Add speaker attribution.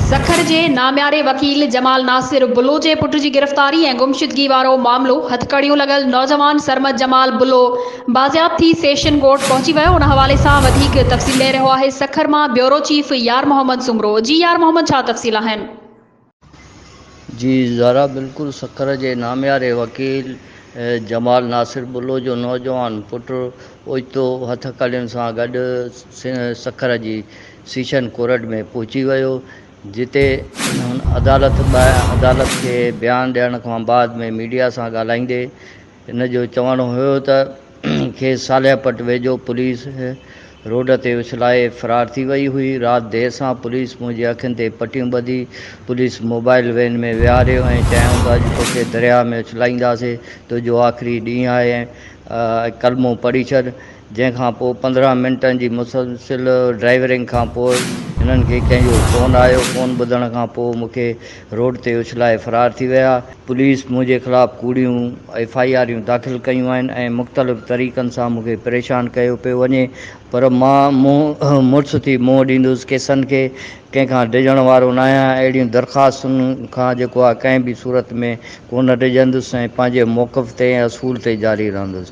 Speaker 1: سکر جي نامياري وڪيل جمال ناصر بلو جي پٽ جي گرفتاري ۽ گمشدگي وارو معاملو، هٿڪڙيون لڳل نوجوان سرمد جمال بلو بازياب ٿي سيشن ڪورٽ پهچي ويو، ان حوالي سان وڌيڪ تفصيل ڏئي رهيو آهي سکر مان بيورو چيف يار محمد سومرو، جي يار محمد ڇا تفصيل آهن؟
Speaker 2: جي زارا بلڪل سکر جي نامياري وڪيل جمال ناصر بلو جو نوجوان پٽ اوچتو هٿڪڙين سان گڏ سکر جي سيشن ڪورٽ ۾ پهچي ويو جتي هن عدالت کي بيان ڏيڻ کان بعد ۾ ميڊيا سان ڳالهائيندي هن جو چوڻ هيو ته کيس صالح پٽ ويجهو پوليس روڊ تي اڇلائي فرار ٿي وئي هئي، رات دير سان پوليس منهنجي اکين تي پٽيون ٻڌي، پوليس موبائيل وين ۾ ويهاريو ۽ چيائون ته اڄ توکي درياهه ۾ اڇلائينداسين، تنهنجو آخري ڏينهن آهي ۽ ڪلمو پڙهي ڇڏ. جنهن کان پوء پندرهن منٽن جي مسلسل ڊرائيورنگ کان پوء هنن کي ڪنهن جو فون آيو، فون ٻڌڻ کان پوء مون کي روڊ تي اڇلائي فرار ٿي ويا، پوليس منهنجي خلاف ڪوڙيون ايف آء آريون داخل ڪيون آهن ۽ مختلف طريقن سان مون کي پريشان ڪيو پيو وڃي پر مان منهن مڙس ٿي منهن ڏيندس ڪيسن کي ڪنهن کان ڊڄڻ وارو ناهيان اهڙين درخواستن کان جيڪو آء ڪنهن به صورت ۾ ڪونه ڊڄندس ۽ پنهنجي موقف تي ۽ اصول تي جاري رهندس.